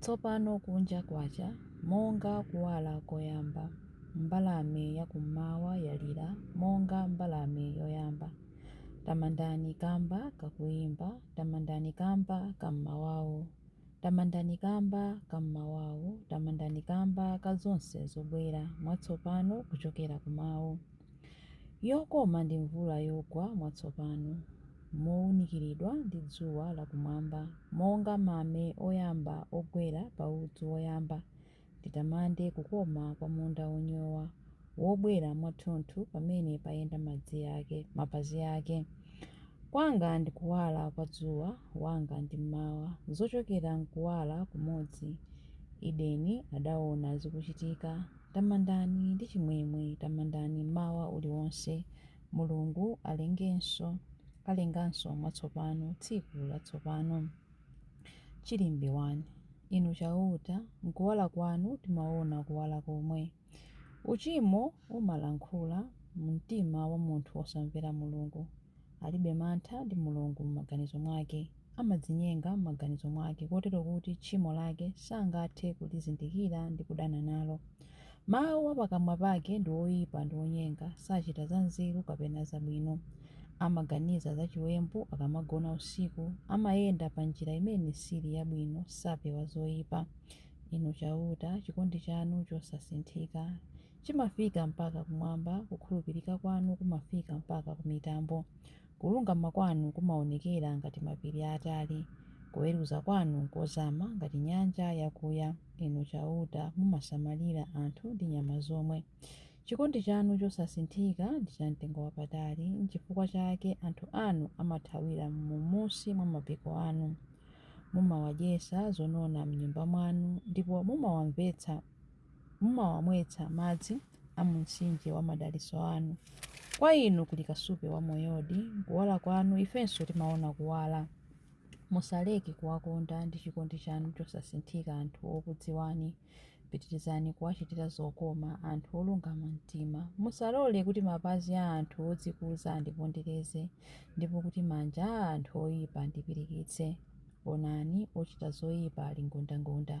Tsopano kunja kwacha, monga kuwala koyamba. Mbalame ya kummawa yalira, monga mbalame yoyamba. Tamandani kamba ka kuyimba, tamandani kamba ka mmawawu. Tamandani kamba ka mmawawu, tamandani kamba ka zonse zobwera mwatsopano kuchokera ku Mawu. Yokoma ndi mvula yogwa mwatsopano. mowunikiridwa ndi dzuwa la kumwamba, monga mame oyamba ogwera pa udzu woyamba, nditamande kukoma kwa munda wonyowa, wobwera mwathunthu pamene payenda madzi ake, mapazi ake. Kwanga ndi kuwala kwa dzuwa, wanga ndi mmawa, zochokera m'kuwala kumodzi, Edeni adawona zikuchitika. Tamandani ndi chimwemwe, tamandani mmawa uliwonse, Mulungu alengenso, alenganso mwatsopano tsiku latsopano. Chilimbi 1. Inu Chauta, m'kuwala kwanu timaona kuwala komwe. Uchimo umalankhula mu mtima wa munthu wosamvera Mulungu. Alibe mantha ndi Mulungu m'maganizo mwake. amadzinyenga m'maganizo mwake kotero kuti tchimo lake sangathe kulizindikira ndi kudana nalo. Mawu a pakamwa pake ndi oyipa ndi onyenga, sachita zanzeru kapena zabwino. Amaganiza za chiwembu akamagona usiku, amayenda pa njira imene sili yabwino, sapewa zoyipa. Inu Chauta, chikondi chanu chosasinthika chimafika mpaka kumwamba, kukhulupirika kwanu kumafika mpaka ku mitambo. Kulungama kwanu kumaonekera ngati mapiri aatali, kuweruza kwanu nkozama ngati nyanja yakuya. Inu Chauta, mumasamalira anthu ndi nyama zomwe. Chikondi chanu chosasinthika ndi chamtengowapatali, nchifukwa chake anthu anu amathawira m'munsi mwa mapiko anu. Mumawadyetsa zonona m'Nyumba mwanu, ndipo mumawamvetsa. Mumawamwetsa madzi a mu mtsinje wa madalitso anu. Kwa inu kuli kasupe wa moyodi, m'kuwala kwanu ifenso timaona kuwala. Musaleke kuwakonda ndi chikondi chanu chosasinthika anthu okudziwani. Pitirizani kuwachitira zokoma anthu olungama mtima. Musalole kuti mapazi a anthu odzikuza andipondereze, ndipo kuti manja a anthu oyipa andipirikitse. Onani, ochita zoyipa ali ngundangunda.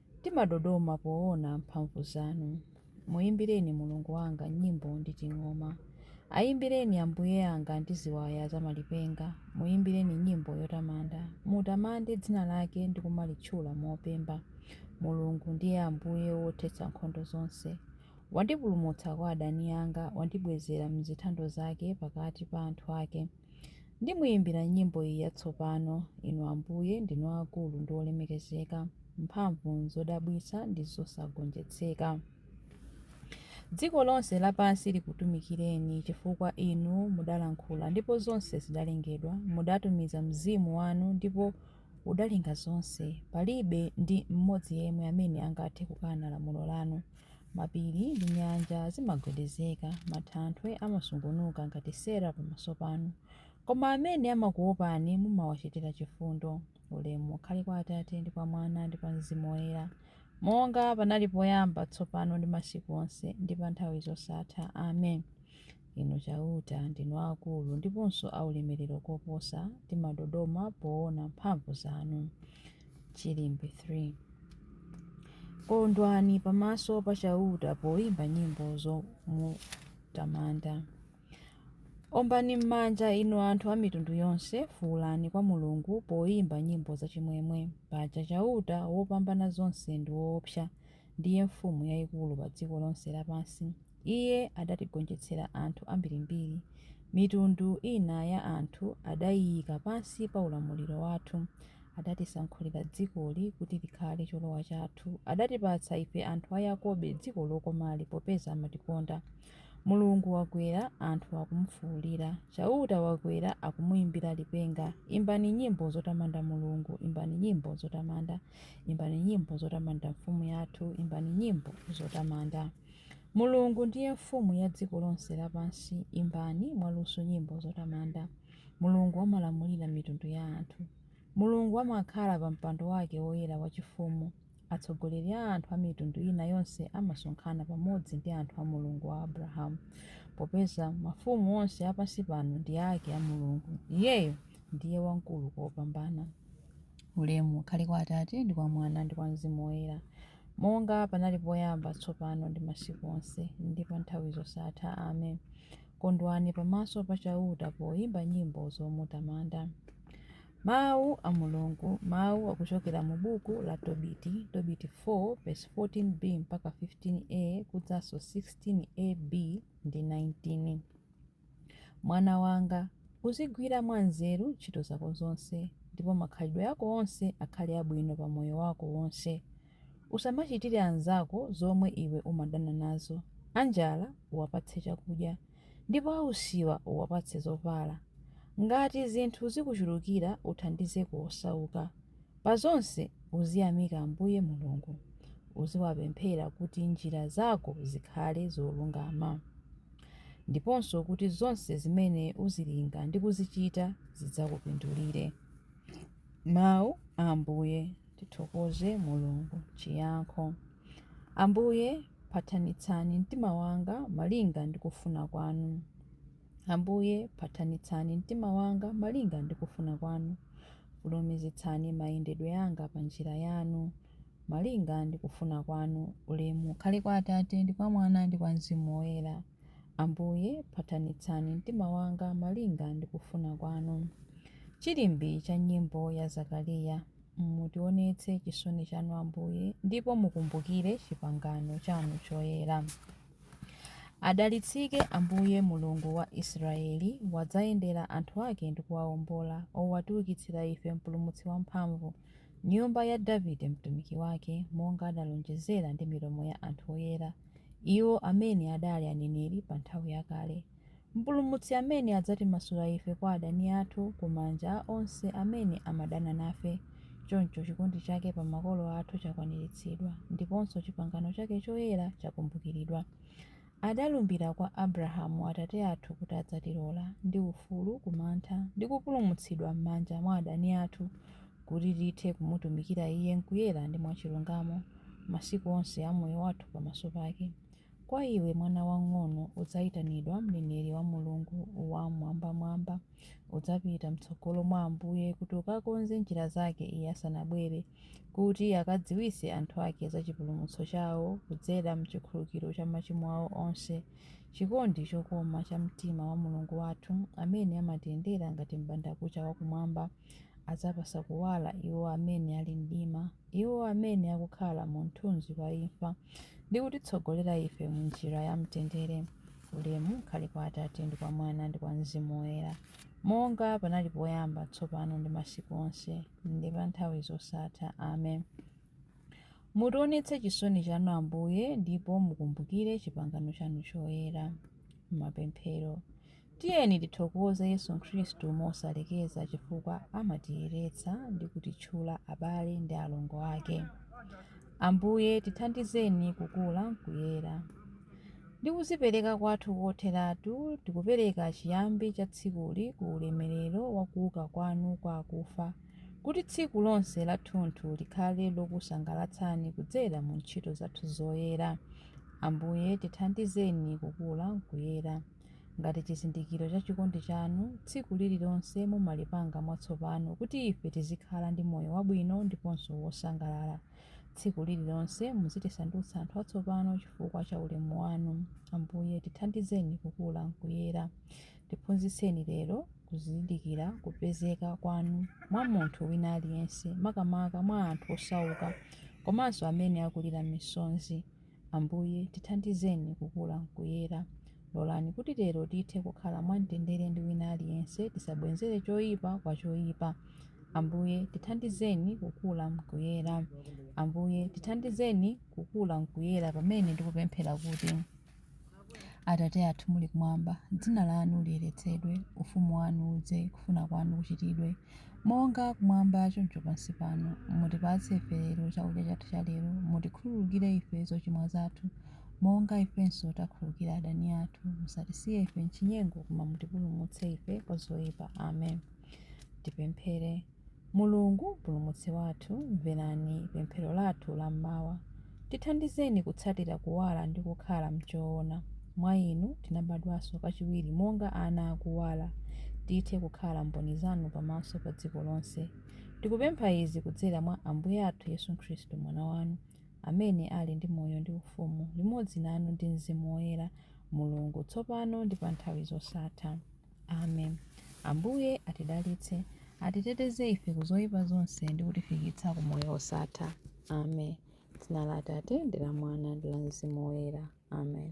Timadodoma poona mphamvu zanu. Muimbireni Mulungu wanga nyimbo ndi ting'oma. Aimbireni Ambuye anga ndi ziwaya za malipenga, muimbireni nyimbo yotamanda. Mutamande dzina lake ndi kumalitchula mopemba. Mulungu ndiye Ambuye wothetsa nkhondo zonse. Wandipulumutsa kwa adani anga, wandibwezera m'zithando zake pakati pa anthu ake. Ndimuyimbira nyimbo iyi yatsopano, Inu Ambuye ndinu aakulu ndi olemekezeka, mphamvu n'zodabwitsa ndi zosagonjetseka. Dziko lonse lapansi likutumikireni, chifukwa Inu mudalankhula, ndipo zonse zidalengedwa, mudatumiza Mzimu wanu, ndipo udalenga zonse. Palibe ndi mmodzi yemwe amene angathe kukana lamulo lanu. Mapiri ndi nyanja zimagwedezeka, mathanthwe amasungunuka ngati sera pamaso panu. Koma amene amakuopani mumawachitira chifundo. Ulemu ukhale kwa Atate, ndi kwa Mwana, ndi kwa Mzimu Woyera, monga panali poyamba, tsopano ndi masiku onse, ndi pa nthawi zosatha. Amen. Inu Chauta, ndinu aakulu ndiponso aulemerero koposa, timadodoma poona mphamvu zanu. Chilimbi 3 Kondwani pamaso pa Chauta poimba nyimbo zomutamanda. Ombani m'manja, inu anthu a mitundu yonse, fuulani kwa Mulungu poimba nyimbo zachimwemwe. Paja Chauta Wopambanazonse ndi woopsa, ndiye mfumu yaikulu pa dziko lonse lapansi. Iye adatigonjetsera anthu ambirimbiri, mitundu ina ya anthu adaiika pansi pa ulamuliro wathu. Adatisankhulira dzikoli kuti likhale cholowa chathu. Adatipatsa ife anthu a Yakobe dziko lokomali, popeza amatikonda. Mulungu wakwera, anthu akumufuulira. Chauta wakwera, akumuimbira lipenga. Imbani nyimbo zotamanda Mulungu, imbani nyimbo zotamanda. Imbani nyimbo zotamanda mfumu yathu, imbani nyimbo zotamanda. Mulungu ndiye Mfumu ya dziko lonse lapansi, imbani mwaluso nyimbo zotamanda. Mulungu amalamulira mitundu ya anthu. Mulungu amakhala pa mpando wake woyera wachifumu, atsogoleri a anthu a mitundu ina yonse amasonkhana pamodzi ndi anthu a Mulungu wa Abrahamu, popeza mafumu onse a pansi pano ndi ake a Mulungu, Iyeyo ndiye wamkulu kopambana. Ulemu ukhale kwa Atate, ndi kwa Mwana, ndi kwa Mzimu Woyera. Monga panali poyamba, tsopano ndi masiku onse, ndi pa nthawi zosatha. Amen. Kondwani pamaso pa Chauta poimba nyimbo zomutamanda. Mau a Mulungu, mau akuchokera mu Buku la Tobiti, Tobiti 4 vesi 14b mpaka 15 a, kudzanso 16 a, b, ndi 19. Mwana wanga, uzigwira mwanzeru ntchito zako zonse, ndipo makhalidwe ako onse akhale abwino pa moyo wako wonse. Usamachitire anzako zomwe iwe umadana nazo, anjala uwapatse chakudya, ndipo ausiwa uwapatse zovala. Ngati zinthu zikuchulukira, uthandizeko osauka. Pa zonse uziyamika Ambuye Mulungu. Uziwapemphera kuti njira zako zikhale zolungama, ndiponso kuti zonse zimene uzilinga ndi kuzichita zidzakupindulire. Mawu a Ambuye. Tithokoze Mulungu. Chiyankho. Ambuye, phathanitsani mtima wanga malinga ndi kufuna kwanu. Ambuye, phathanitsani mtima wanga malinga ndi kufuna kwanu, fulumizitsani mayendedwe anga pa njira yanu, malinga ndi kufuna kwanu, ulemu ukhale kwa Atate, ndi kwa Mwana, ndi kwa Mzimu Woyera. Ambuye, phathanitsani mtima wanga malinga ndi kufuna kwanu. Chilimbi cha Nyimbo ya Zakariya. Mutionetse chisoni chanu, Ambuye, ndipo mukumbukire chipangano chanu choyera. Adalitsike Ambuye, Mulungu wa Israeli, wadzayendera anthu ake ndi kuwaombola, O watiukitsira ife Mpulumutsi wamphamvu, nyumba ya Davide mtumiki wake, monga adalonjezera ndi milomo ya anthu oyera, iwo amene adali aneneri pa nthawi yakale. Mpulumutsi amene adzatimasula ife kwa adani athu ku manja a onse amene amadana nafe. Choncho chikondi chake pa makolo athu chakwaniritsidwa, ndiponso chipangano chake choyera chakumbukiridwa. Adalumbira kwa Abrahamu atate athu kuti adzatilola, ndi ufulu ku mantha, ndi kupulumutsidwa m'manja mwa adani athu, kuti tithe kumutumikira Iye m'kuyera ndi mwachilungamo, masiku onse a moyo wathu pamaso pake. Kwa iwe, mwana wang'ono, udzaitanidwa mneneri wa Mulungu Wam'mwambamwamba. Udzapita m'tsogolo mwa Ambuye kuti ukakonze njira zake Iye asanabwere, kuti akadziwitse anthu ake za chipulumutso chao kudzera m'chikhululukiro cha machimo ao onse, chikondi chokoma cha mtima wa Mulungu wathu, amene amatiyendera ngati m'bandakucha wa Kumwamba. adzapatsa kuwala iwo amene ali mdima, iwo amene akukhala mu mthunzi wa imfa, ndi kutitsogolera ife mu njira ya mtendere. Ulemu ukhale kwa Atate ndi kwa Mwana ndi kwa Mzimu Woyera, monga panali poyamba, tsopano ndi masiku onse, ndi pa nthawi zosatha. Amen. Mutionetse chisoni chanu, Ambuye, ndipo mukumbukire chipangano chanu choyera. Mapemphero. Tiyeni tithokoze Yesu Khristu mosalekeza chifukwa amatiyeretsa ndi kutitchula abale ndi alongo ake. Ambuye, tithandizeni kukula m'kuyera. Ndi kudzipereka kwathu kotheratu, tikupereka chiyambi cha tsikuli ku ulemerero wa kuuka kwanu kwa akufa, kuti tsiku lonse lathunthu likhale lokusangalatsani kudzera mu ntchito zathu zoyera. Ambuye, tithandizeni kukula m'kuyera. Ngati chizindikiro cha chikondi chanu, tsiku lililonse mumalipanga mwatsopano kuti ife tizikhala ndi moyo wabwino ndiponso wosangalala. Tsiku lililonse muzitisandutsa anthu atsopano chifukwa cha ulemu wanu. Ambuye, tithandizeni kukula m'kuyera. Tiphunzitseni lero kuzindikira kupezeka kwanu mwa munthu wina aliyense, makamaka mwa anthu osauka komanso amene akulira misonzi. Ambuye, tithandizeni kukula m'kuyera. Lolani kuti lero tithe kukhala mwamtendere ndi wina aliyense, tisabwenzere choipa kwa choipa. Ambuye, tithandizeni kukula m'kuyera. Ambuye, tithandizeni kukula m'kuyera pamene ndikupemphera kuti. Atate athu muli kumwamba, dzina lanu liyeretsedwe, ufumu wanu udze, kufuna kwanu kuchitidwe, monga kumwamba choncho pansi pano. Mutipatse ife lero chakudya chathu cha lero, mutikhululukire ife zochimwa zathu, monga ifenso takhululukira adani athu, musatisiye ife m'chinyengo, koma mutipulumutse ife kwa zoyipa. Amen. Tipemphere. Mulungu, Mpulumutsi wathu, mverani pemphero lathu la m'mawa. Tithandizeni kutsatira kuwala ndi kukhala m'choona. Mwa Inu tinabadwanso kachiwiri monga ana a kuwala, tithe kukhala mboni Zanu pamaso pa dziko lonse. Tikupempha izi kudzera mwa Ambuye athu Yesu Khristu, Mwana Wanu, amene ali ndi moyo ndi ufumu limodzi nanu ndi Mzimu Woyera, Mulungu, tsopano ndi pa nthawi zosatha. amen ambuye atidalitse atiteteze ife ku zoyipa zonse ndi kutifikitsa ku moyo wosatha amen dzina la atate ndi la mwana ndi la mzimu woyera amen